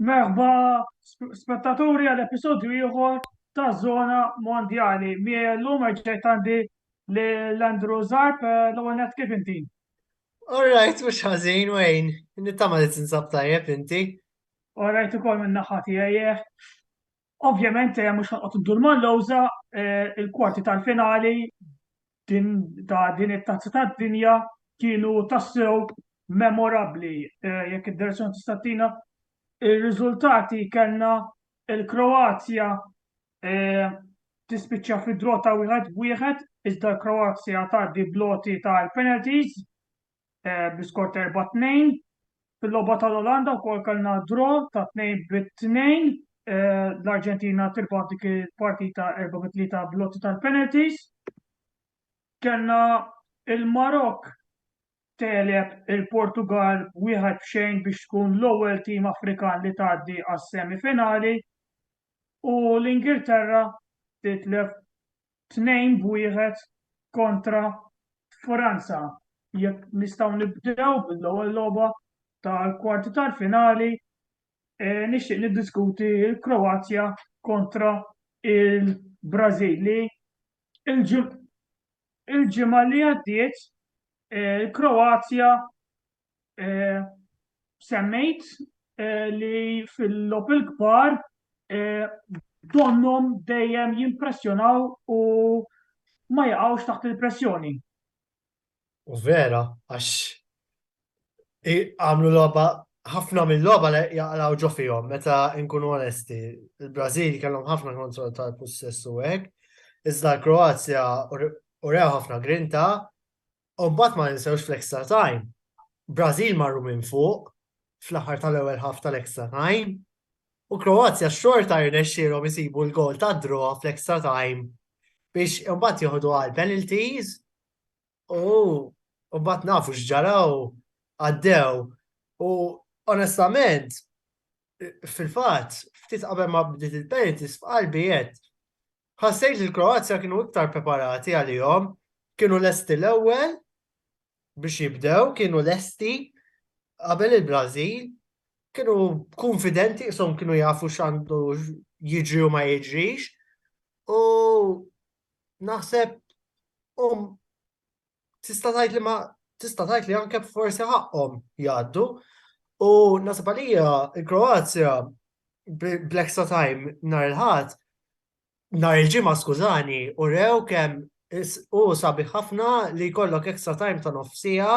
Merħba spettaturi għal episodju ieħor ta' Zona Mondjali. Miegħi llum reġgħet għandi l-Andrew Zarb l-ewwel net kif inti? All right, mhux ħażin wejn, nittama li tinsab tajjeb inti. All right ukoll minn naħa tiegħi. Ovvjament, eh, mhux ħanqot iddur mal-lowża, eh, il-kwarti tal-finali ta' din it-tazza tad-dinja kienu tassew memorabbli eh, jekk id-direzzjoni tistatina. Ir-riżultati kellna il-Kroazja tispiċċa fi drota wieħed wieħed iżda l-Kroazja tgħaddi bloti tal-penalties eh, bl-iskor ta' 4-2. Fil-logħba tal-Olanda wkoll kellna draw ta' 2 bit-2. Eh, L-Arġentina tirbaħ dik il-partita 4-3 bl-lotti tal-penalties. Kellna il-Marok teleb il-Portugal wieħed b'xejn biex tkun l-ewwel tim Afrikan li tgħaddi għas-semifinali u l-Ingilterra titlef tnejn b'wieħed kontra Franza. Jekk nistgħu nibdew bil-ewwel logħba tal-kwarti tal-finali, e, nixtieq niddiskuti l-Kroazja kontra il-Brażil li il-ġimgħa li għaddiet e, il-Kroazja semmejt li fil-lopil kbar donnom dejjem jimpressjonaw u ma jaqgħux taħt il-pressjoni. U vera, għax għamlu logħba ħafna mill-logħba li jaqlaw ġo fihom, meta nkunu onesti. Il-Brażil kellhom ħafna kontroll tal-pussess u hekk, iżda l-Kroazja u rew ħafna grinta U mbagħad ma ninsewx fl-extra time. Brażil marru minn fuq fl-aħħar tal-ewwel ħaf tal-extra time. U Kroazja xorta jirnexxielhom isibu l-gol ta' draw fl-extra time biex imbagħad joħdu għal penalties u mbagħad nafu x'ġaraw għaddew. U onestament, fil-fatt, ftit qabel ma bdiet il-penalties f'qalbi qed Ħassejt li l-Kroazja kienu iktar preparati għalihom, kienu lesti l-ewwel biex jibdew, kienu lesti qabel il-Brażil, kienu kunfidenti qishom kienu jafu x'għandu jiġri u ma jiġrix. U naħseb hum tista' tgħid li ma tista' tgħid li anke forsi ħaqqhom jgħaddu. U nasib għalija il-Kroazja bl-extra time nhar il-ħadd nhar il-ġimgħa skużani u rew kemm u sabiħ ħafna li jkollok extra time ta' nofsija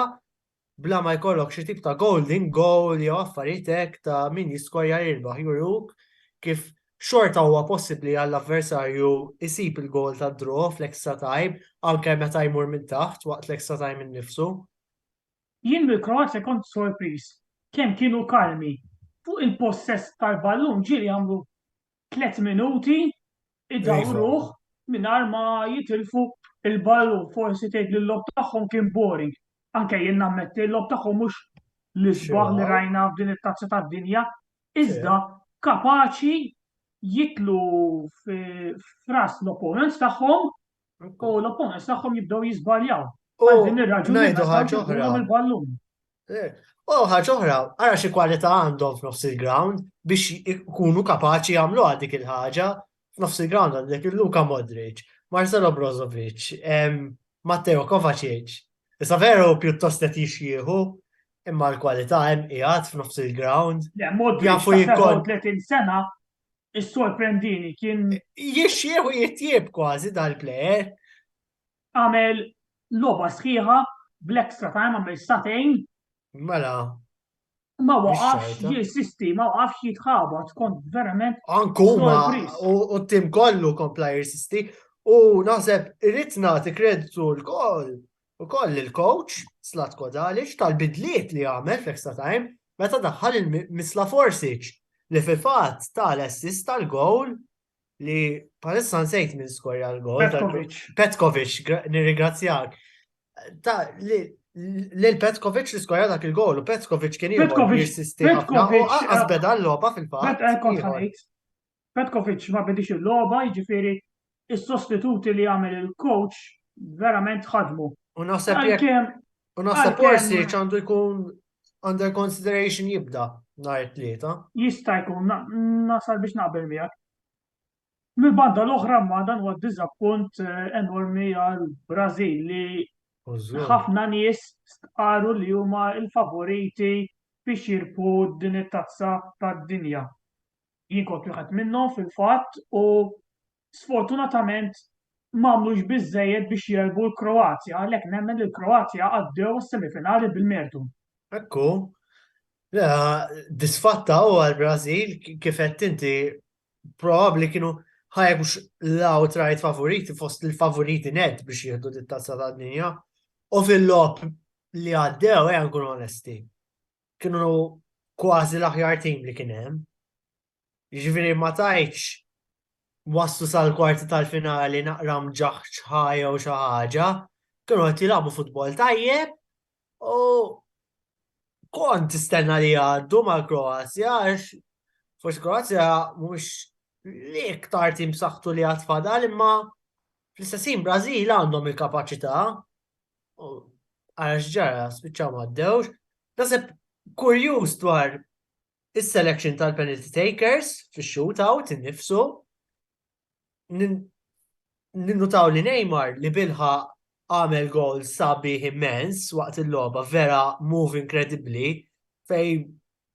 bla ma jkollok xi tip ta' golden goal jew affarijiet hekk ta' min jiskorja jirbaħ juruk kif xorta huwa possibbli għall-avversarju jsib il-goal tad-draw fl-extra time anke meta jmur minn taħt waqt l-extra time innifsu. Jien mill-Kroazja kont sorpriż kemm kienu kalmi, fuq il-possess tal-ballun ġieli għamlu tliet minuti idawruh mingħajr ma jitilfu l-ballun. Forsi tgħid li l-logħob tagħhom kien boring. Anke jien nammetti l-logħob tagħhom mhux l-isbaħ li rajna f'din it-Tazza tad-Dinja, iżda kapaċi jitlu f'ras l-opponents tagħhom U l-opponents tagħhom jibdew jiżbaljaw. Għal din ir-raġuni ngħidu ħaġa oħra. Il-ballun. Eh, u ħaġa oħra, ara xi kwalità għandhom f'nofs il-ground biex ikunu kapaċi jagħmlu għal dik il-ħaġa f'nofs il-ground għandek il-Luka Modric, Marcelo Brozovic, Matteo Kovacic. Issa veru pjuttost qed jixjieħu imma l-kwalità hemm qiegħed f'nofs il-ground. Jafu jikkont 30 sena Is-sorprendini kien. Jixxieħu jitjieb kważi dal-plejer. Għamel loba sħiħa bl-extra time għamel satejn. Mela. Ma waqafx jirsisti, ma waqafx jitħabat, kont verament. Ankuma, u t-tim kollu kompla jirsisti, u naħseb irrit nagħti kreditu l-koll Ukoll il-coach, Zlatko Dalic, tal-bidliet li għamel fl-extra time meta daħħal lil Mislav Orsic li fil-fatt ta l-assist tal-gowl li palissa nsejt minn skorja l-gowl. Petkovic. Petkovic, nirringrazzjak. Ta' li l-Petkovic li skorja dak il-gowl u Petkovic kien jibqa' jissisti ħafna u għazbeda l-loba fil-fatt. Petkovic ma bidiex il-logħba, jiġifieri s-sostituti li għamel il-coach verament ħadmu. U naħseb jekk u naħseb Orsic għandu jkun under consideration jibda nhar it-tlieta. Jista' jkun nasal biex naqbel miegħek. Mill-banda l-oħra ma dan huwa diżappunt eh, enormi għal Brażil li ħafna nies stqaru li huma l-favoriti biex jirpu din it-tazza tad-dinja. Jien kont wieħed minnhom fil-fatt u sfortunatament m'għamlux biżżejjed biex jegħlbu l-Kroazja għalhekk nemmen li l-Kroazja għaddew għas-semifinali bil-mertu. Hekk hu. Disfatta hu għall-Brażil kif għedt inti probabbli kienu ħajja mhux l-outright favoriti fost il-favoriti net biex jieħdu dit-tazza tad-dinja u fil-logħob li għaddew ejja nkunu onesti. kienu kważi l-aħjar tim li kien hemm. Jiġifieri ma tajtx waslu sal-kwarti tal-finali naqra mġaħġ ħajja u xi ħaġa, kienu qed jilagħbu futbol tajjeb u kont tistenna li għaddu mal-Kroazja għax forsi Kroazja mhux li iktar tim saħtu li għad fadal imma fl-istessin Brażil għandhom il-kapaċità Għara x'ġara, spiċċaw m'għaddewx. Naseb kurjuż dwar is-selection tal-penalty takers fix-shootout innifsu. Ninnutaw li Neymar li bilħa għamel gol sabi immens waqt il-logħba vera move inkredibbli fej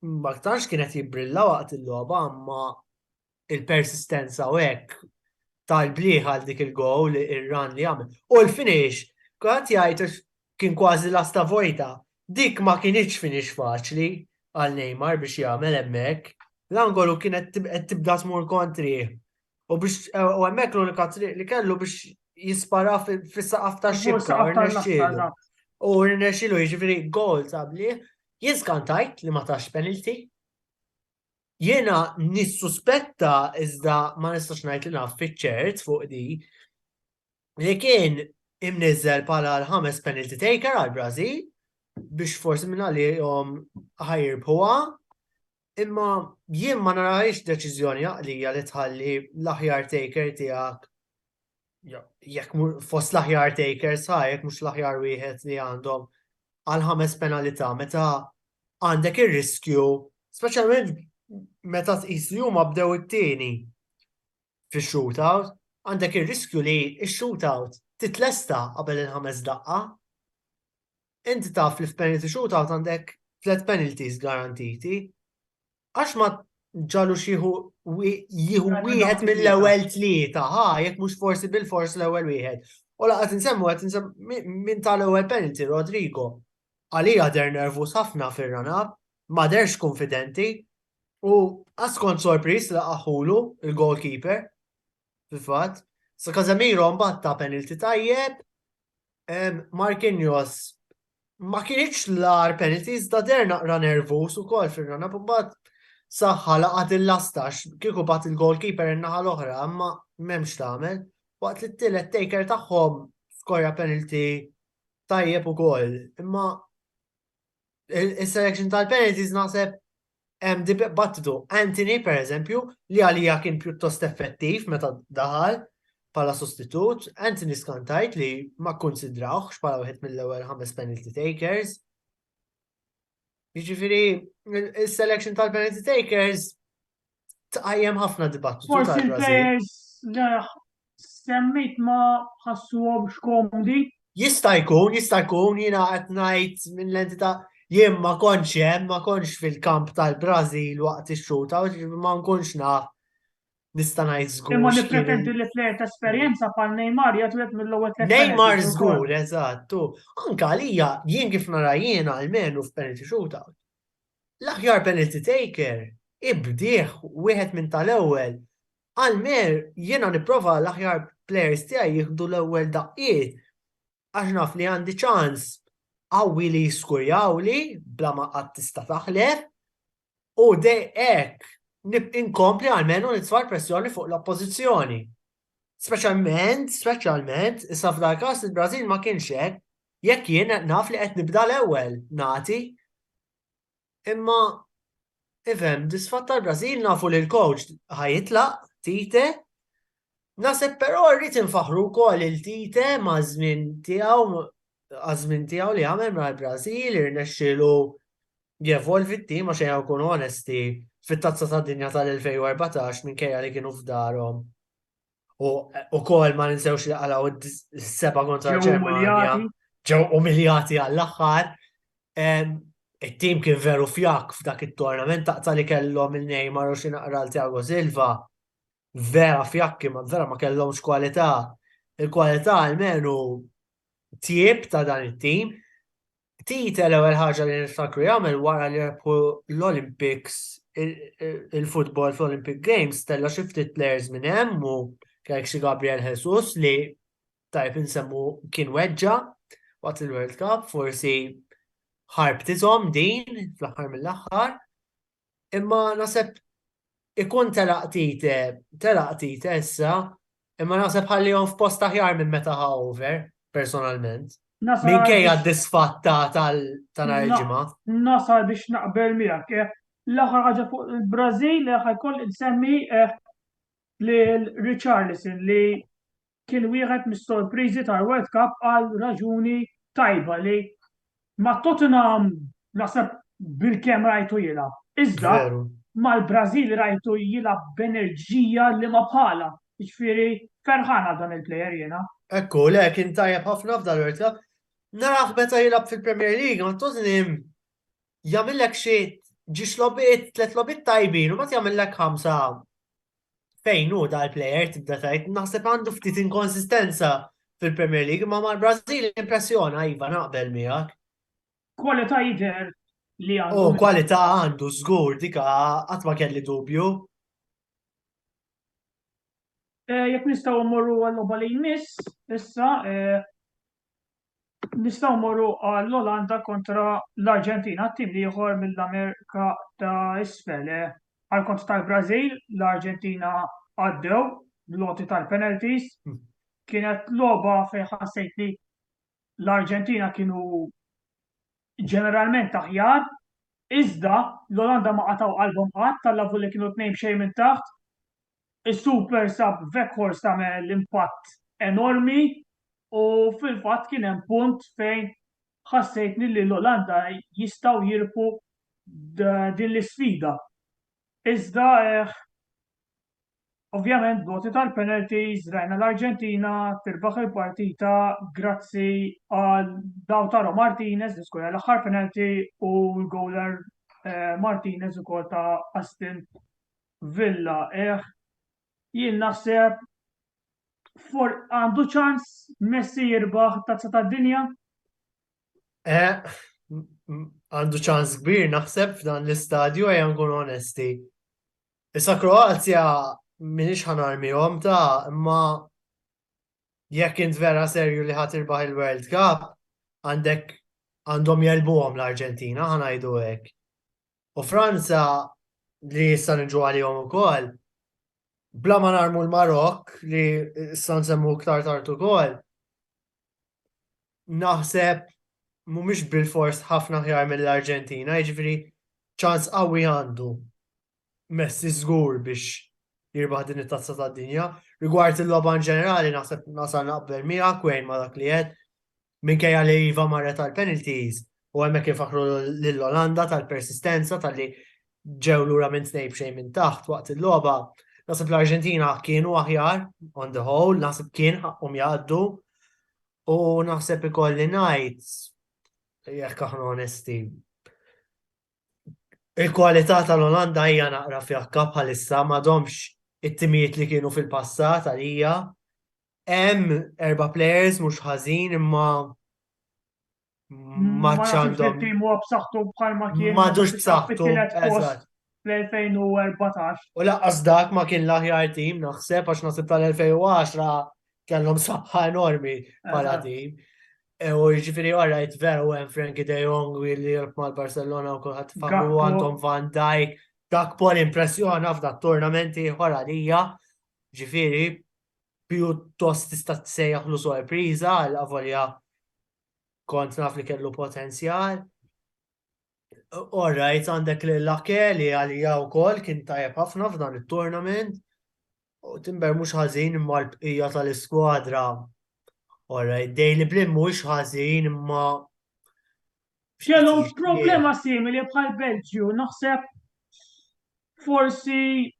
ma tantx kienet jibbrilla waqt il-logħba imma il-persistenza u hekk tal-bliħ għal dik il-gowl ir-run li għamel. U l-finish, kont jgħid kien kważi lasta vojta, dik ma kienitx finish faċli għal Neymar biex jagħmel hemmhekk. L-angolu kienet tibda tmur kontri. U biex u hemmhekk l-unika triq li kellu biex jispara fis-saqaf ta' xibka u rnexxielu. U rnexxielu jiġifieri gol tabli. Jien skantajt li ma tax penalty. Jiena nissuspetta iżda ma nistax ngħid li naf fiċ-ċert fuq di li kien imniżel bħala l-ħames penalty taker għal Brażil biex forsi minn għalihom ħajrbħuha imma jien ma narajx deċiżjoni għaqlija li tħalli l-aħjar taker tiegħek jekk fost l-aħjar takers ha, jekk mhux l-aħjar wieħed li għandhom għal ħames penalità meta għandek ir-riskju, speċjalment meta tqis li huma bdew it-tieni fix-shootout, għandek ir-riskju li x-shootout titlesta qabel il-ħames daqqa. Inti taf li f'penalty shootout għandek tliet penalties garantiti. Għax ma ġalux jieħu jieħu wieħed mill-ewwel tlieta, ha, jekk mhux forsi bil-fors l-ewwel wieħed. U laqgħet insemmu qed insemmu minn tal-ewwel penalty Rodrigo. Għalija der nervus ħafna fir-ranab, ma derx konfidenti u għaskont sorpris li qaħulu il-goalkeeper. Fil-fatt, sa Casemiro mbagħad ta' penalty tajjeb, Marquinhos ma kienx l-ar penalty iżda der naqra nervus ukoll fir-rana b'mbagħad saħħa laqat il-lastax kieku bat il-goalkeeper in-naħa l-oħra imma m'hemmx tagħmel. Waqt li t-tielet taker tagħhom skorja penalty tajjeb ukoll. Imma il-selection tal-penalties naħseb hemm dibattitu. Anthony, per eżempju, li għalija kien pjuttost effettiv meta daħal pala sostitut, Anthony skantajt li ma konsidrawx pala wieħed mill-ewwel ħames penalty takers. Jiġifieri, il-selection tal-penalty takers tqajjem ħafna dibattitu. Forsi l-players semmit ma ħassuhom x'komdi. Jista' jkun, jista' jkun jiena qed ngħid minn l-entità jien ma kontx hemm, ma kontx fil-kamp tal-Brażil waqt ix-xuta, ma nkunx naf nista' ngħid żgur. Imma nippretendi li plejer ta' esperjenza bħal Neymar jagħtu jekk mill-ewwel tliet. Neymar żgur, eżatt, u anke għalija jien kif nara jiena almenu f'penalty shootout. L-aħjar penalty taker hi bdiegħ wieħed minn tal-ewwel. Qal Maher jiena nipprova l-aħjar players tiegħi jieħdu l-ewwel daqqiet għax naf li għandi ċans qawwi li jiskurjawli bla ma qatt tista' taħlef u dej hekk inkompli għalmenu nitfa' pressjoni fuq l-oppożizzjoni. Speċjalment, speċjalment, issa f'dal każ il-Brażil ma kienx hekk, jekk jien qed naf li qed nibda l-ewwel nagħti. Imma ifhem, disfatt tal-Brażil nafu li l-coach ħajitlaq, Tite, Naseb però rrid infaħru wkoll il-Tite ma' żmien tiegħu għaż-żmien tiegħu li għamel mal-Brażil, irnexxielu jevolvi t-tim għax ejja nkunu onesti fit-Tazza tad-Dinja tal-2014 minkejja li kienu f'darhom u wkoll ma ninsewx li qalgħu s-seba' kontra l-Ġermanja ġew umiljati għall-aħħar. It-tim kien veru fjak f'dak it-tournament taqta' li kellhom il-Neymar u xi naqra l-Thiago Silva vera fjakki ma vera ma kellhomx kwalità. Il-kwalità almenu tjib ta' dan it-tim. Tite l-ewwel ħaġa li niftakru jagħmel wara li rebħu l-Olympics il-futbol fl-Olympic Games tella' xi ftit players minn hemm u kellek xi Gabriel Jesus li tajb insemmu kien weġġa' waqt il-World Cup forsi ħarbtithom din fl-aħħar mill-aħħar imma naħseb ikun telaq tite, telaq tite issa, imma naħseb ħallihom f'post aħjar minn meta ħa over, personalment. Minkejja d-disfatta tal-nar il-ġimgħa. Nasar biex naqbel miegħek. Eh, l-aħħar ħaġa fuq il-Brażil eh, ħajkoll insemmi eh, li Richarlison li kien wieħed mis-sorpriżi tal-World Cup għal raġuni tajba li ma' Tottenham naħseb bil-kemm rajtu jilgħab. Iżda mal-Brażil rajtu jilgħab b'enerġija li ma bħala. Jiġifieri ferħan għal dan il-plejer jiena. Ekku, le kien tajjeb ħafna f'dan il-World Cup. Naraħ meta jilgħab fil-Premier League ma' Tottenham jagħmillek xi ġiex logħbiet tliet logħbiet tajbin u mbagħad jagħmillek ħamsa fejn hu dal-plejer tibda tajt naħseb għandu ftit inkonsistenza fil-Premier League ma mar Brażil impressjona iva naqbel miegħek. Kwalità jidher li għandu. Oh, kwalità għandu żgur dika qatt ma kelli dubju. Eh, jekk nistgħu mmorru għal-logħba li jmiss, issa eh, Nistgħu mmorru għall-Olanda kontra l-Arġentina, t-tim l-ieħor mill-Amerika ta' Isfel. Għall-kont tal-Brażil, l-Arġentina għaddew bl-għoti tal-penalties. Kienet logħba fejn ħassejt li l-Arġentina kienu ġeneralment aħjar, iżda l-Olanda ma qatgħu qalbhom qatt, tal-avu li kienu tnejn b'xejn minn taħt. Is-super sub Weghorst għamel impatt enormi u fil-fatt kien hemm punt fejn ħassejtni li l-Olanda jistgħu jirbħu din l-isfida. Iżda Ovvjament b'voti tal-penalties rajna l-Arġentina tirbaħ il-partita grazzi għal Lautaro Martinez li skorja l-aħħar penalty u l-goaler eh, Martinez ukoll ta' Aston Villa. Eh, jien naħseb for għandu ċans Messi jirbaħ tazza ta' dinja? Eh, għandu ċans kbir naħseb f'dan l-istadju għaj għangun onesti. Issa Kroazja minix ħanarmihom ta' imma jekk int vera serju li ħadd irbaħ il-World Cup, għandek għandhom jelbuhom l-Arġentina, ħanajdu hekk. U Franza li issa niġu għalihom ukoll, bla ma narmu l-Marok li issa nsemmu iktar tard ukoll, naħseb mhumiex bilfors ħafna aħjar mill-Arġentina, jiġifieri ċans qawwi għandu Messi żgur biex jirbaħ din it-tazza tad-dinja. Rigward il-logħba ġenerali naħseb nasal naqbel miegħek wejn ma dak li qed minkejja li iva marret tal-penalties, U hemmhekk infaħħru lill-Olanda tal-persistenza talli ġew lura minn tnejn b'xejn minn taħt waqt il-logħba. Naħseb l-Arġentina kienu aħjar on the whole, naħseb kien ħaqqhom jgħaddu u naħseb ikolli ngħid jekk aħna onesti. Il-kwalità tal-Olanda hija naqra fjakka bħalissa m'għadhomx it-timijiet li kienu fil-passat għalija. Hemm erba' players mhux ħażin imma ma għandhom. Il-tim huwa b'saħħtu bħalma kien. Ma ġux b'saħħtu. Fl-2014. U laqqas dak ma kien l-aħjar tim naħseb għax naħseb tal-2010 kellhom saħħa enormi bħala tim. E, u ġifiri għarajt veru għen Frankie De Jong u li jirb mal Barcelona u kullħat famu għandhom Van Dijk. Dak pol impressjona f'dak turnamenti ħora lija. Ġifiri, pjuttost tista' tsejjaħlu sorpriża għal avolja kont naf li kellu potenzjal. Orrajt għandek li l-lake li għalija u kol kien tajab ħafna f'dan il-tournament. U timber mux ħazin imma l-bqija tal-iskwadra. Orrajt, Daily Blim mux ħazin imma. Xelom problema simili bħal Belġju, naħseb forsi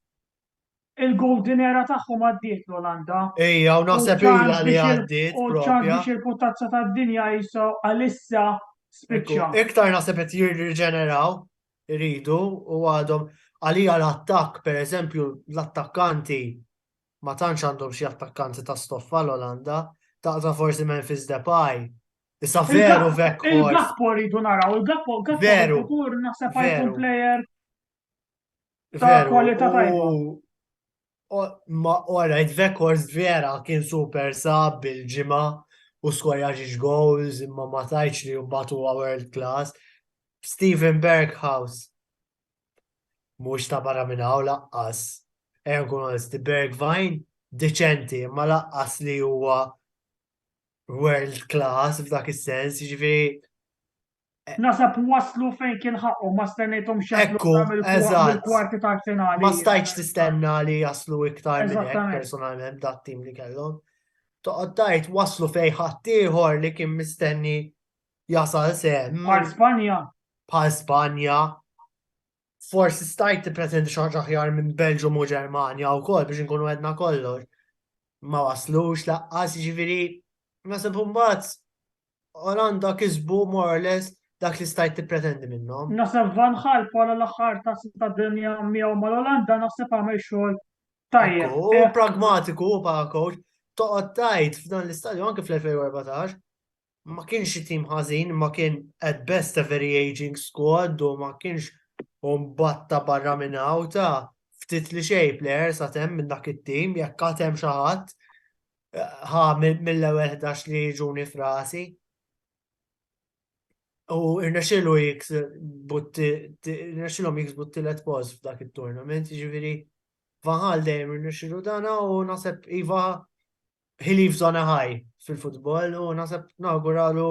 Il-Golden Era tagħhom għaddiet l-Olanda. Ejja, u naħseb ilha li għaddiet propja. U ċans biex il-puttazza tad-dinja jisa għalissa spiċċa. Iktar naħseb qed jirriġeneraw iridu u għadhom għalija l-attakk, per eżempju, l-attakkanti ma tantx għandhom xi attakkanti ta' stoffa l-Olanda, taqta forsi Memphis Depay. Issa veru vekk. Il-Gakpo rridu naraw, il-Gakpo, Gakpo, veru, naħseb għajkun player Ta' kwalità tajba. Ma orajt Vekors vera kien super sab bil-ġimgħa u skorja ġiġ goals imma ma tajċ li mbagħad huwa world class. Steven Berghaus mhux ta' barra minn hawn laqqas. Ejja nkun onesti Bergvine deċenti imma laqqas li huwa world class f'dak is-sens, jiġifieri Nasab waslu fejn kien ħaqqhom, ma stennejthomx jaslu Ekku, sa mill-kwa- eżatt. mill-kwarti ta' finali. Ma stajtx tistenna li jaslu iktar minn hekk Eżattament. personalment dat-tim li kellhom. Toqgħod tgħid waslu fejn ħaddieħor li kien mistenni jasal sehem Mar Spanja, bħal Spanja. Forsi stajt tippretendi xi ħaġa aħjar minn Belġum u Ġermanja wkoll biex inkunu għedna kollox. Ma waslux laqqas jiġifieri nasib imbagħad Olanda kisbu more or less dak li stajt tippretendi minnhom. Naħseb Van Gaal bħala l-aħħar tazza tad-dinja miegħu mal-Olanda naħseb għamel xogħol tajjeb. U eh. pragmatiku bħala coach, toqgħod tajt f'dan l-istadju anke fl-2014 ma kienx tim ħażin, ma kien at best a very aging squad u ma kienx batta barra minn ta' ftit li xej player sa' tem minn dak it-tim, jekk għatem xaħat, ħa mill-ewwel 11 li jiġuni frasi. U irnexxilu jiks butti, irnexxilhom jiks butti let post f'dak it-tournament, ġifieri Vanħal dejjem irnexxilu dana u naħseb iva he leaves on a high fil-futbol u naħseb nawguralu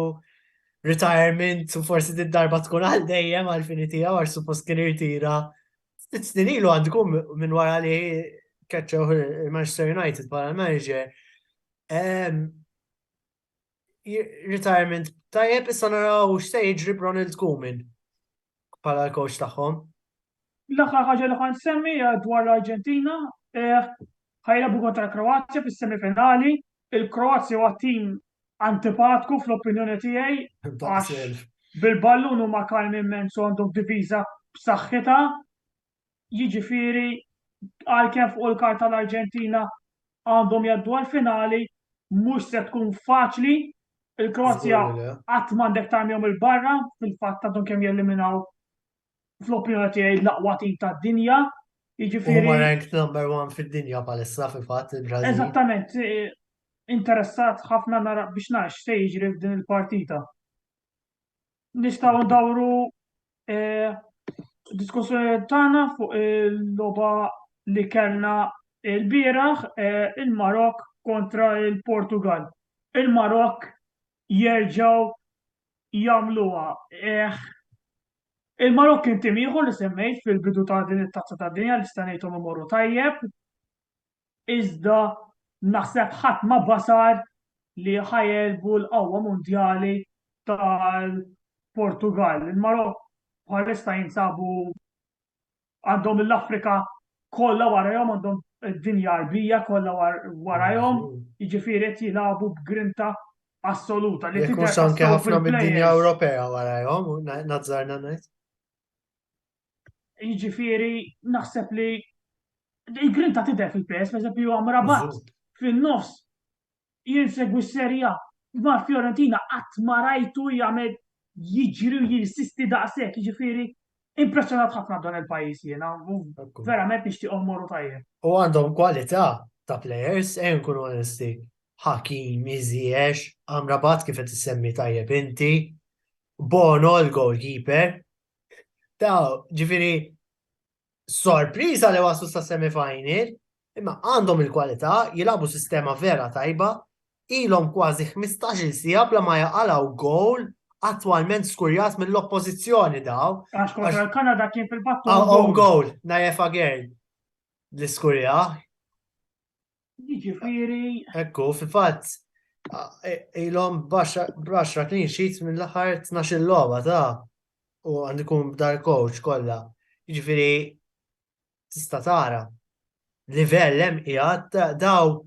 retirement u forsi darba tkun għal dejjem għal fini tiegħu għax suppost kien irtira Sitt snin ilu għandku minn wara li keċċew il-Manchester United bħala manager. Retirement tajjeb issa naraw x'se jiġri Ronald Kumin bħala l-coach tagħhom. L-aħħar ħaġa li ħan semmi dwar l-Arġentina, eh, ħajlabu kontra l-Kroazja fis-semifinali il-Kroazja huwa tim antipatku fl-opinjoni tiegħi għax bil-ballun huma kalmi immens u għandhom diviża b'saħħitha. Jiġifieri għalkemm fuq il-karta l-Arġentina għandhom jgħaddu għall-finali mhux se tkun faċli. Il-Kroazja qatt m'għandek tarmihom il-barra fil-fatt għandhom kemm jeliminaw fl-opinjoni tiegħi l-aqwa tim tad-dinja. Jiġifieri. Huma ranked number one fid-dinja palissa fil-fatt il-Brażil. Eżattament, eh, interessat ħafna nara biex nax se jiġri f'din il-partita. Nistgħu ndawru eh, diskussjoni tagħna fuq il-logħba li kellna il-bieraħ eh, il-Marok kontra il-Portugal. Il-Marok jerġgħu jagħmluha. Il-Marokk kien tim ieħor li semmejt fil-bidu ta' din it-Tazza tad-Dinja li sta' ngħidhom imorru tajjeb, iżda naħseb ħadd ma basar li ħajegħlbu l-qawwa mondjali tal-Portugall. Il-Marokk bħalissa jinsabu għandhom l-Afrika kollha warajhom għandhom id-dinja arbija kollha warajhom, jiġifieri qed jilagħbu b'grinta assoluta li tidher anke ħafna mid-dinja Ewropea warajhom, nazzarna ngħid. Jiġifieri naħseb li il-grinta tidher fil-PS, pereżempju Amrabat fin-nofs Jien segwi s-Serie A, imma Fiorentina qatt ma rajtu jagħmel jiġri u jinsisti daqshekk, jiġifieri impressjonat ħafna b'dan il-pajjiż jiena, verament nixtieqhom imorru tajjeb. U għandhom kwalità ta' plejers, ejja nkunu onesti, Hakimi, Ziyech, Amrabat kif qed issemmi tajjeb inti, Bono l-goalkeeper, ta' ġifieri sorpriża li waslu sa semifinal, imma għandhom il-kwalità, jilagħbu sistema vera tajba, ilhom kważi 15-il siegħa bla ma jaqalgħu gowl attwalment skurjat mill-oppożizzjoni daw. Għax kontra l-Kanada kien fil-battu. Għaw gowl, najefa għern. L-iskurja. Jiġifieri. Ekku, fi fatt, ilhom baxra clean sheets mill-aħħar 12 logħba ta' u għandikum b'dar coach kollha. Jiġifieri tista' tara livell hemm qiegħed daw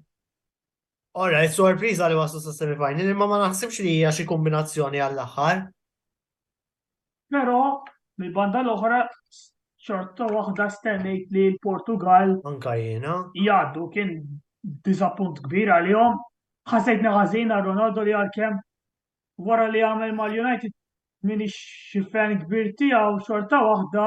Ora, sorpriża li waslu sa semifinal, imma ma naħsibx li hija xi kombinazzjoni għall-aħħar. Però, mill-banda l-oħra, xorta waħda stennejt li l-Portugall. Anke jiena. Jgħaddu, kien diżappunt kbir għalihom. Ħassejtni ħażin għal Ronaldo li għalkemm wara li għamel mal-United m'iniex xi fan kbir tiegħu xorta waħda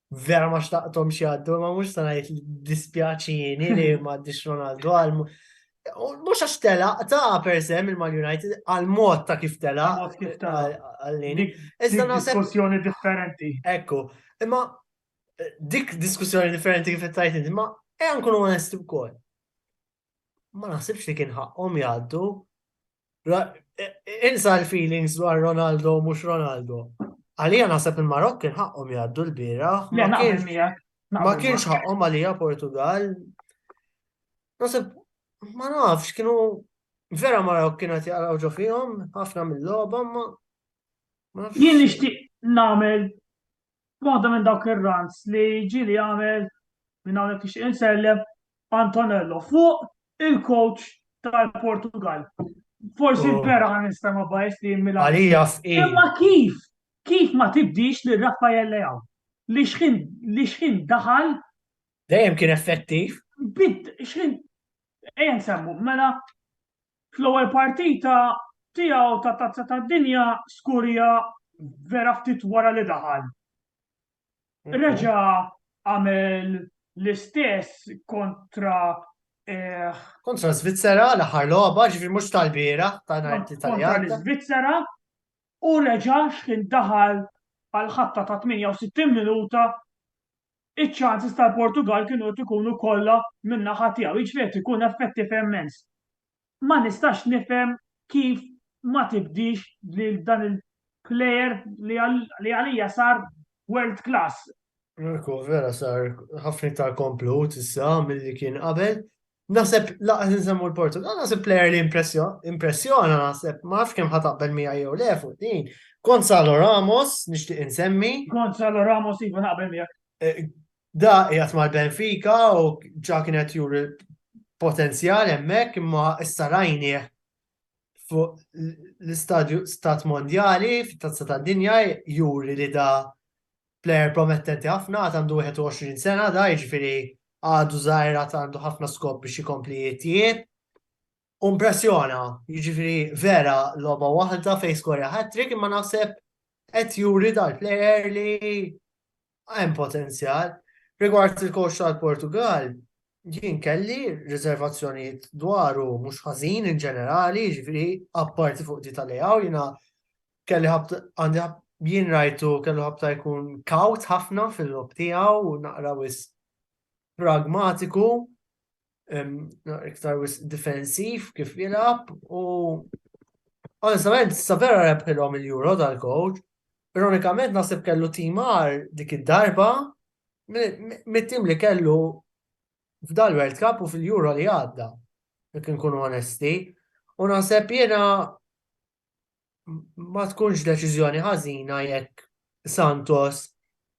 vera ma xtaqtom xjaddu, ma mux sanajt li dispjaċini li ma għaddix Ronaldo għal mux għax tela ta' per se minn Man United għal mod ta' kif tela għallini. Iżda naħseb. Diskussjoni differenti. Ekku, imma eh, dik diskussjoni differenti kif tajt inti, ma għan kunu onesti b'kol. Ma naħsibx li kien ħaqqom jgħaddu Insa l-feelings dwar Ronaldo mhux Ronaldo. Għalija naħseb il-Marokk kien ħaqqhom jgħaddu l-bira. Ma kienx ħaqqhom għalija Portugal. Naħseb ma nafx kienu vera Marokk kienet jaqraw ġo fihom ħafna mill-logħba ma Jien nixtieq nagħmel Waħda minn dawk ir-runs li ġieli għamel minn hawnhekk nixtieq insellem Antonello fuq il-coach tal-Portugal. Forsi oh. vera għan nistama bajs li jimmila. Għalija f'i. Imma kif? Kif ma tibdix li Raffaele Leao? Li xħin, li xħin daħal. Dejjem kien effettiv. Bid, xħin. Ejn semmu, mela Fl-ewwel partita tiegħu ta' Tazza tad-Dinja Skurja vera ftit wara li daħal. Reġa' għamel l-istess kontra eh, Kontra Svizzera, l-aħħar logħba, ġifieri mhux tal-bieraħ, ta' nhar it-Tlieta li kontra għadda. l-Iżvizzera u reġa' x'kien daħal għal ħatta ta' 68 minuta iċ-chances tal-Portugall kienu qed ikunu kollha min-naħa tiegħu, jiġifieri qed ikun effettiv immens. Ma nistax nifhem kif ma tibdiex lil dan il-player li għalija sar world class. Mirko, vera sar ħafna iktar komplut issa milli kien qabel, Naseb laqas nsemmu l-Portugal, naseb player li impressjona, naseb ma nafx kemm ħataqbel mija jew le fuq din. Gonzalo Ramos, nixtieq insemmi. Gonzalo Ramos iva naqbel miegħek. Eh, da qiegħed mal-Benfica u ġa kienet juri potenzjal hemmhekk imma issa rajni fuq l-istadju stat mondjali fit-tazza tad-dinja juri li da plejer promettenti ħafna, għad għandu 21 sena da, jiġifieri għadu żgħir għad għandu ħafna skop biex jkompli jitjieb. Umpressjona, jiġifieri vera logħba waħda fejn skorja hat-trick imma naħseb qed juri dal-plejer li hemm potenzjal. Rigward il-coach tal-Portugal, jien kelli riservazzjonijiet dwaru mhux ħażin in ġenerali, jiġifieri apparti fuq di tal-lejaw jiena Kelli għandi jien rajtu kellu ħabta jkun kaut ħafna fil-lob tiegħu u naqra wis pragmatiku, iktar wis difensiv kif jilab u onestament vera rebħilhom il-Euro dal-coach. Ironikament nasib kellu timar dik id-darba mit-tim li kellu f'dal World Cup u fil-Euro li għadda, jekk nkunu onesti. U naħseb jiena ma tkunx deċiżjoni ħażina jekk Santos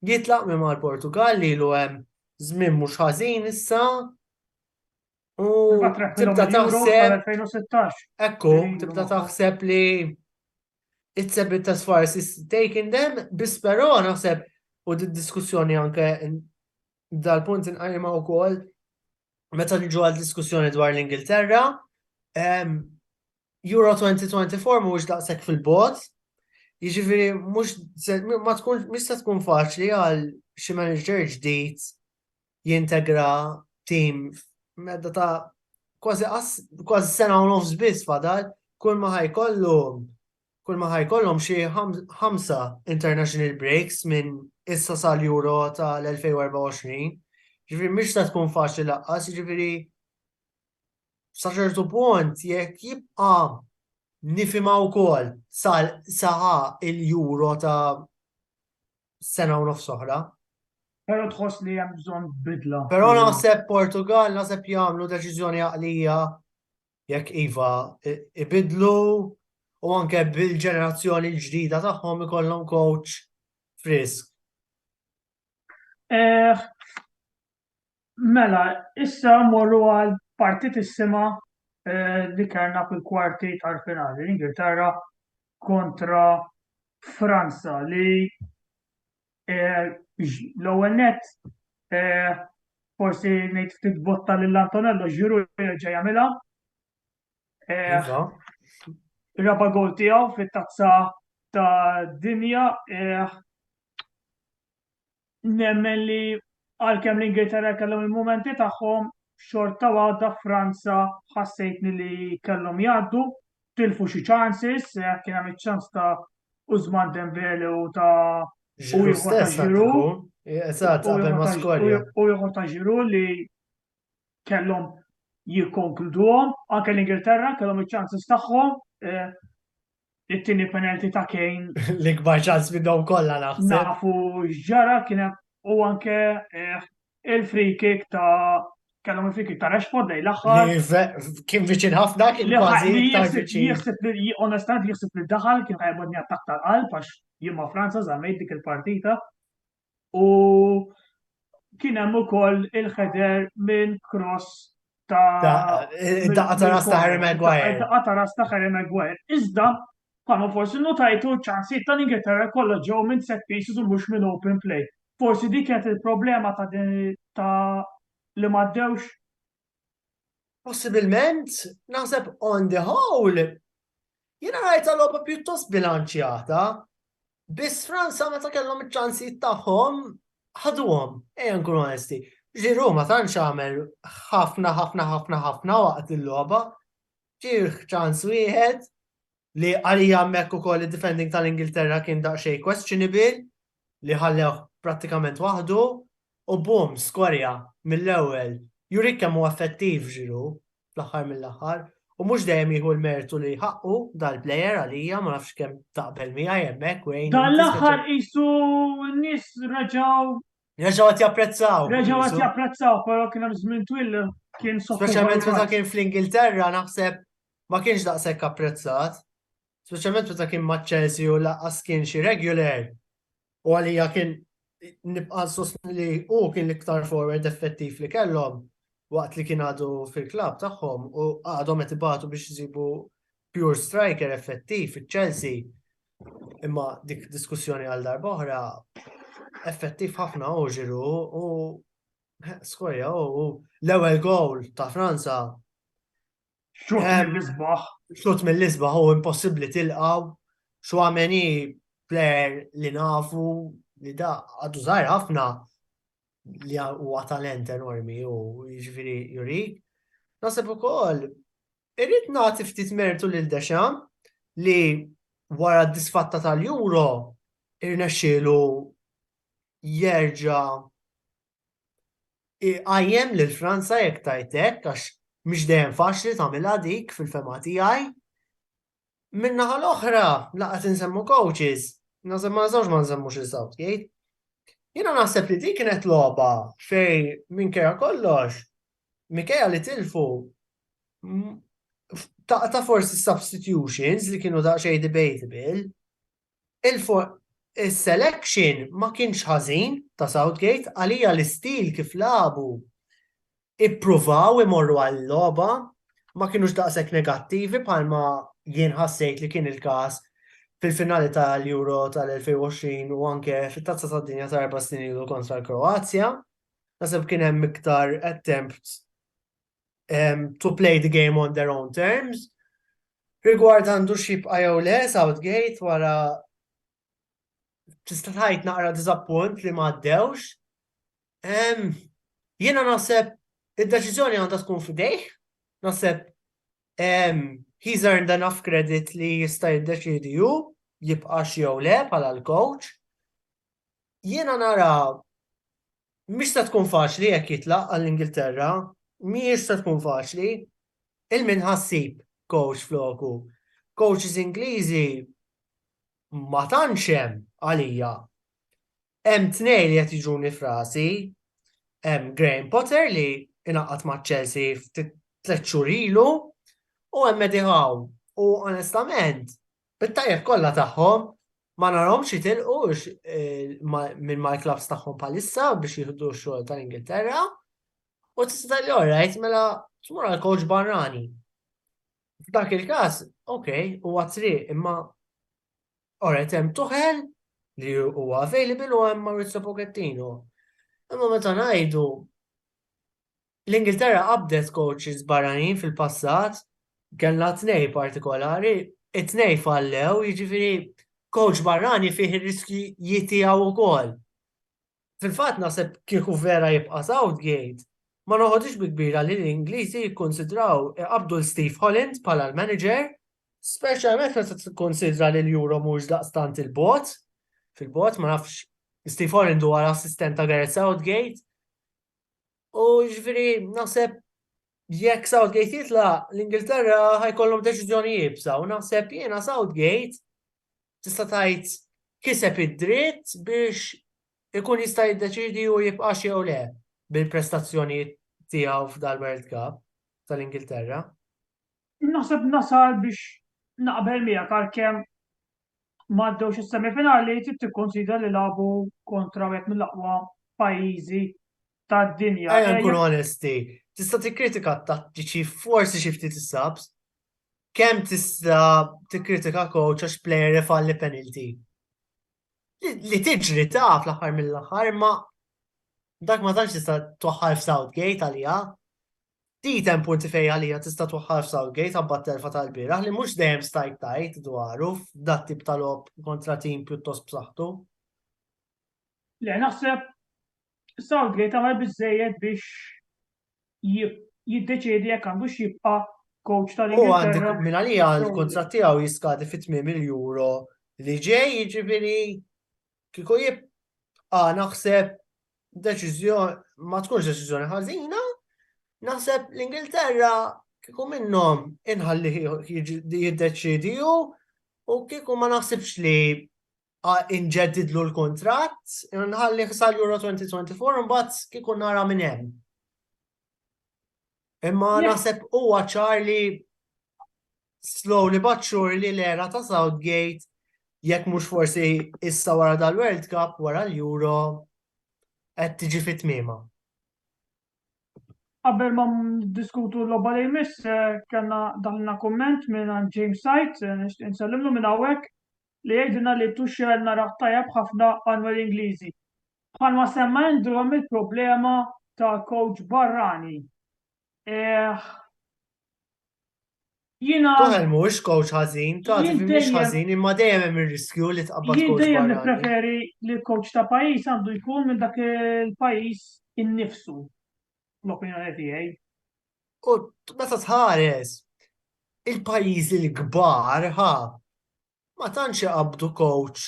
jitlaq minn mal-Portugal li lu hemm żmien mhux ħażin issa u tibda taħseb 2016. Ekku, tibda taħseb li it's a bit as far as it's taking them, biss però naħseb u d-diskussjoni anke dal-punt inqajma wkoll meta niġu għal diskussjoni dwar l-Ingilterra, Euro 2024 mhuwiex daqshekk fil-bogħod, jiġifieri mhux ma tkun mhux se tkun faċli għal xi manager ġdid jintegra tim medda ta' kważi kważi sena u nofs biss fadal, kull ma ħajkollu kull ma ħajkollhom xi ħamsa international breaks minn issa sal-Euro tal-2024. Ġifieri mhix se tkun faċli laqqas, ġifieri saċertu punt jekk jibqa nifima u kol saħa il-juro ta' sena u nofs oħra. Pero tħoss li hemm bżonn bidla. Pero naħseb Portugal naħseb jagħmlu deċiżjoni għaqlija jekk iva ibidlu u anke bil-ġenerazzjoni l-ġdida tagħhom ikollhom coach frisk. Eh, Mela, issa mmorru għal partitissima li kellna fil-kwarti tal-finali, l-Ingilterra kontra Franza li l-ewwel nett forsi ngħid ftit botta lil Antonello Giroud jerġa' jagħmilha. Raba' gowl tiegħu fit-Tazza tad-Dinja. nemmen li għalkemm l-Ingilterra kellhom il-mumenti tagħhom, xorta waħda Franza ħassejtni li kellhom jgħaddu, tilfu xi chances, eh, kien hemm iċ-ċans ta' Użman Dembele u ta' u ieħor ta' Ġiru. Eżatt, qabel ma skorja. U ieħor ta' Ġiru li kellhom jikkonkluduhom, anke l-Ingilterra kellhom iċ-chances tagħhom, eh, it-tieni penalty ta' Kane. L-ikbar ċans minnhom kollha naħseb. Nafu ġara kien hemm u anke eh, il-free kick ta' kellhom il-free kick ta' Rashford lejn l-aħħar. Kien viċin ħafna, kien kważi iktar viċin. Jieħseb li onestament jieħseb li daħal kien ħajbodni attakk tal-qalb għax jien ma' Franza żammejt dik il-partita. u kien hemm ukoll il-ħeder minn cross ta' daqqa ta' ras ta' Harry Maguire. Daqqa ta' ras ta' Harry Maguire. Iżda bħalma forsi notajtu ċansi ta' l-Ingilterra kollha ġew minn set pieces u mhux minn open play. Forsi dik kienet il-problema ta' ta' li m'għaddewx. Possibilment, naħseb on the whole, jiena rajta logħba pjuttost bilanċjata, Biss Franza meta kellhom iċ-ċansijiet tagħhom ħaduhom, ejja nkunu onesti. Ġiru ma tantx għamel ħafna ħafna ħafna ħafna waqt il-logħba. Ġir ċans wieħed li għalija hemmhekk ukoll id-defending tal-Ingilterra kien daqsxejn questionable li ħallew prattikament waħdu u bum skorja mill-ewwel. Jurik kemm huwa effettiv ġiru, fl-aħħar mill-aħħar u mhux dejjem jieħu l-mertu li ħaqqu dal-plejer għalija ma nafx kemm taqbel miegħi hemmhekk wejn. Dan l-aħħar qisu n-nies reġgħu Reġgħu qed japprezzaw. Reġgħu qed japprezzaw, però kien hemm żmien twil kien Speċjalment meta kien fl-Ingilterra naħseb ma kienx daqshekk apprezzat. speċjalment meta kien ma' Chelsea u laqqas kien xi regular u għalija kien nibqa' sostni li u kien l-iktar forward effettiv li kellhom waqt li kien għadu fil-klab tagħhom u għadhom qed ibatu biex jsibu pure striker effettiv iċ-Chelsea. Imma dik diskussjoni għal darba oħra effettiv ħafna u ġiru u skorja u l-ewwel gowl ta' Franza Xut eh, mill-isbaħ. Xut mill-isbaħ u impossibli tilqaw. Xwameni player li nafu li da għadu zaħir ħafna li huwa talent enormi u ġviri juri. Nasib u koll, irrit nati ftit mertu lil Dexam li wara d-disfatta tal-Euro irnexxielu jerġa' Iqajjem lil Franza jekk tgħid hekk għax mhix dejjem faċli tagħmilha dik fil-fehma tiegħi. Min-naħa l-oħra, la qed insemmu coaches, naħseb ma nistgħux ma nsemmux lil Southgate. Jiena naħseb li dik kienet logħba fejn minkejja kollox, minkejja li tilfu ta' forsi substitutions li kienu daqsxejn debatable, Is-selection ma kienx ħażin ta' Southgate, għalija l-istil kif lagħbu, ippruvaw imorru għal-logħba, ma kienux daqshekk negattivi bħalma jien ħassejt li kien il-każ fil-finali tal-Euro tal-2020 u anke fit-Tazza tad-Dinja ta' erba' snin ilu kontra l-Kroazja. Naħseb kien hemm iktar attempts um, to play the game on their own terms. Rigward għandu xibqa jew le, Southgate wara tista' tgħid naqra diżappunt li ma għaddewx. Um, Jiena naħseb id-deċiżjoni għandha tkun f'idejh, naħseb um, he's earned enough credit li jista' jiddeċidi ju jibqax jew le bħala l-coach. Jiena nara mhix se tkun faċli jekk jitlaq għall-Ingilterra, mhijiex se tkun faċli. Il min ħa ssib coach floku? Coaches Ingliżi ma tantx hemm għalija. Hemm tnejn li qed jiġuni frasi, hemm Graham Potter li inaqgħad ma' Chelsea ftit tliet xhur ilu u hemm Eddie Howe. U onestament, Bit-tajjeb kollha tagħhom ma narhomx jitilqu minn mal-klabbs tagħhom bħalissa biex jieħdu x-xogħol tal-Ingilterra. U tista' tgħidli orajt mela tmur għal coach barrani. F'dak il-każ, ok, huwa triq imma orajt hemm tuħel li huwa available u hemm Maurizio Pochettino. Imma meta ngħidu L-Ingilterra qabdet kowċis barranin fil-passat. Kellna tnejn partikolari, it-tnejn fallew, jiġifieri kowċ barrani fih ir-riskji tiegħu wkoll. Fil-fatt naħseb kieku vera jibqa' Southgate, ma noħodhiex bi kbira li l-Ingliżi jikkunsidraw iqabbdu 'l Steve Holland bħala l-manager, speċjalment meta tikkunsidra li l-Euro mhuwiex daqstant 'il bogħod, fil-bogħod, ma nafx, Steve Holland huwa l-assistent ta' Gareth Southgate, U ġviri, naħseb jekk Southgate jitla, l-Ingilterra ħajkollhom deċiżjoni jibsa u naħseb jiena Southgate tista' tgħid kiseb id-dritt biex ikun jista' jiddeċidi u jibqa' jew le bil-prestazzjoni tiegħu f'dal-World Cup tal-Ingilterra. Naħseb nasal biex naqbel miegħek għalkemm ma għaddewx is-semifinali trid tikkunsidra li lagħbu kontra wieħed mill-aqwa pajjiżi tad-dinja. Ejja eh, nkunu onesti, tista' tikkritika t-tattiċi forsi xi ftit is-subs. Kemm tista' tikkritika coach għax player ifalli penalty? Li tiġri taf l-aħħar mill-aħħar ma dak ma tantx tista' toħħal f'Southgate għalija. Ftit hemm punti fejn għalija tista' twaħħal f'Southgate abbat telfa tal-bieraħ li mhux dejjem stajt tajt dwaru f'dat tip tal-ob kontra tim pjuttost b'saħħtu. Le, naħseb Southgate għamel biżejjed biex jiddeċiedi jekk għandu xibqa' coach tal-Ingilterra. Minn għalija l-kontrat tiegħu jiskadi fit-8 euro li ġej jiġifieri Kieku jibqa' naħseb deċiżjoni ma tkunx deċiżjoni ħażina, naħseb l-Ingilterra kieku minnhom inħalli jiddeċidi u kieku ma naħsibx li inġeddidlu l-kontrat, nħalli xsal Euro 2024 mbagħad kieku nara minn hemm. Imma naħseb huwa ċar li slowly but surely l-era ta' Southgate jekk mhux forsi issa wara dal-World Cup wara l-Euro qed tiġi fit-tmiema. Qabel ma diskutu l-logħba li jmiss eh, kellna daħna kumment minn James Sajt, eh, nixtieq insellimlu minn hawnhekk li jgħidilna li Tuchel narah tajjeb ħafna għanwel Ingliżi. Bħalma semma Andrew hemm il-problema ta' coach barrani. Eh, Jiena. Tuchel mhuwiex kowċ ħażin, tant li mhux ħażin, imma dejjem hemm ir-riskju li tqabbad kowċ barrani. Jien dejjem nippreferi li l-kowċ ta' pajjiż għandu jkun minn dak il-pajjiż innifsu, fl-opinjoni tiegħi. U meta tħares il-pajjiżi l-kbar, ħa, ma tantx iqabbdu kowċ,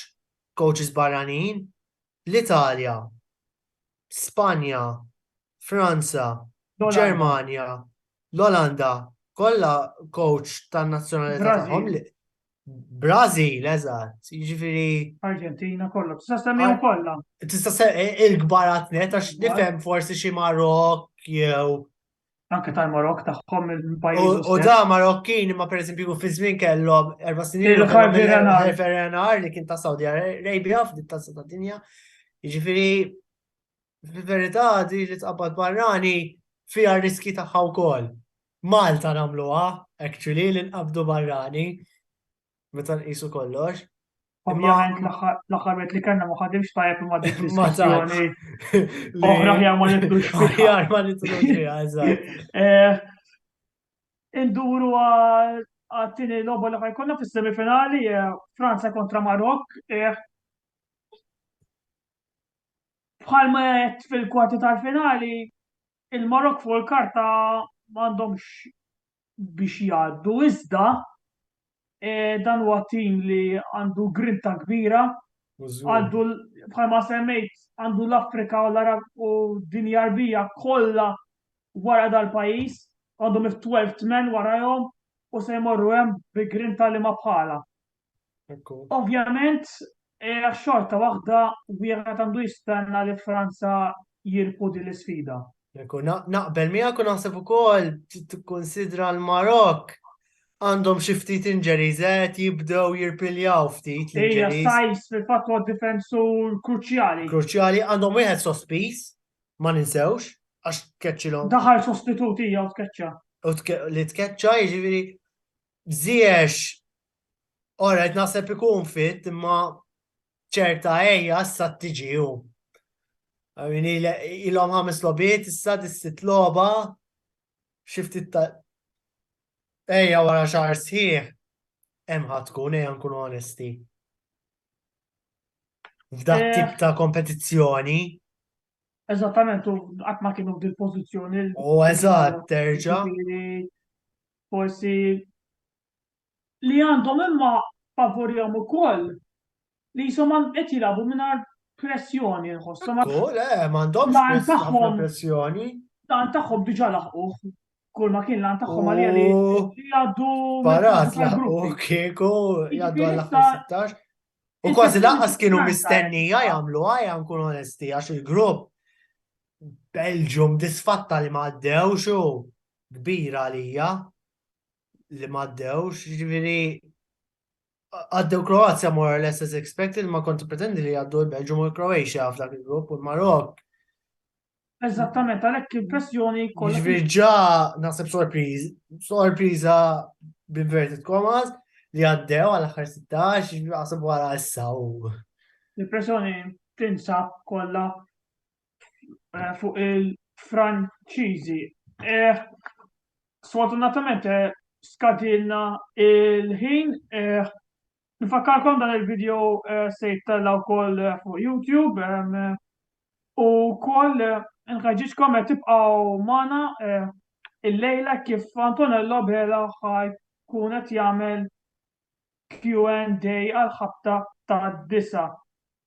kowċis barranin, l-Italja, Spanja, Franza, Ġermanja, l-Olanda, kollha kowċ tan-nazzjonalità tagħhom. Brażil, eżatt, jiġifieri. Arġentina kollha, tista' semmihom kollha. Tista' il-kbarat net għax nifhem forsi xi Marok jew anke tal-Marok tagħhom il-pajjiż. U da Marokkin ma pereżempju fi żmien kellhom erba' snin il-Ferrenar li kien ta' Saudi Arabia f'dik ta' ta' dinja. Jiġifieri fil-verità di li tqabbad barrani fiha riski tagħha wkoll. Malta nagħmluha actually li nqabdu barrani. meta nqisu kollox. Ovvjament l-aħħar wet li kellna ma ħadimx tajjeb imma dik l-istazzjoni. Oħra ħjar ma nitdux fiha. ma nitdux fiha, eżatt. Eh, induru għattini l-logħba li ħajkonna fis-semifinali eh, Franza kontra Marok. Eh, bħal ma jett fil-kwarti tal-finali, il-Marok fuq il-karta m'għandhomx biex jgħaddu iżda eh, dan huwa tim li għandu grinta kbira għandu bħalma semmejt għandu l-Afrika u l-Arab u dinja arbija kollha wara dal-pajjiż għandu mif 12 men warahom u se jmorru hemm bi grinta li ma bħala. Ekku. Ovvjament, era xorta waħda wieħed għandu jistenna li Franza jirpu din l-isfida. Ekku, na- naqbel miegħek u naħseb ukoll t- tikkunsidra l-Marokk għandhom xi ftit injuries qed jibdew jirpiljaw ftit Ejja, l-injuries. Sajs fil-fatt huwa difensur kruċjali. Kruċjali għandhom wieħed sospiż, ma ninsewx, għax tkeċċilhom Daħal sostituti jew tkeċċa. u tke- li tkeċċa jiġifieri Ziyech, alright naħseb ikun fit imma ċerta ejja issa tiġi hu. Ilhom ħames lobiet issa dis-sitt logħba xi ftit ta' ejja wara xahar sħiħ hemm ħadd tkun ejja nkunu onesti. F'dak eh. tip ta' kompetizzjoni. Eżattament, u qatt ma kienu fil-pożizzjoni. U eżatt, terġa'. forsi li għandhom imma favurihom ukoll li jisom qed jilagħbu mingħajr pressjoni nħossu. Ekku, le, m'għandhomx pressjoni. Dan tagħhom diġà laħquh kull ma kien lan tagħhom għalija li jgħaddu. Barat laħqu kieku jgħaddu għal 16. U kważi laqas kienu mistennija jagħmlu għajja nkun onesti għax il-grupp Belġum disfatta li ma għaddewx u kbira għalija li ma għaddewx, ġifieri għaddew Kroazja more or less as expected, ma konti pretendi li għaddu l-Belġu u l-Kroatia f'dak il-grupp u l-Marok. Eżattament, għalhekk il-pressjoni kollha. Ġifieri ġa naħseb sorpriż, sorpriża b'inverted commas li għaddew għal aħħar 16, għasab wara issa u. Il-pressjoni tinsab kollha eh, fuq il-Franċiżi. Eh, sfortunatament eh, skadilna il-ħin. Nfakkarkom dan il-video se jittella wkoll fuq YouTube u wkoll nħeġġiġkom qed tibqgħu magħna il-lejla kif Antonello Bela ħaj kun qed jagħmel Q&A għal ħabta ta' disa.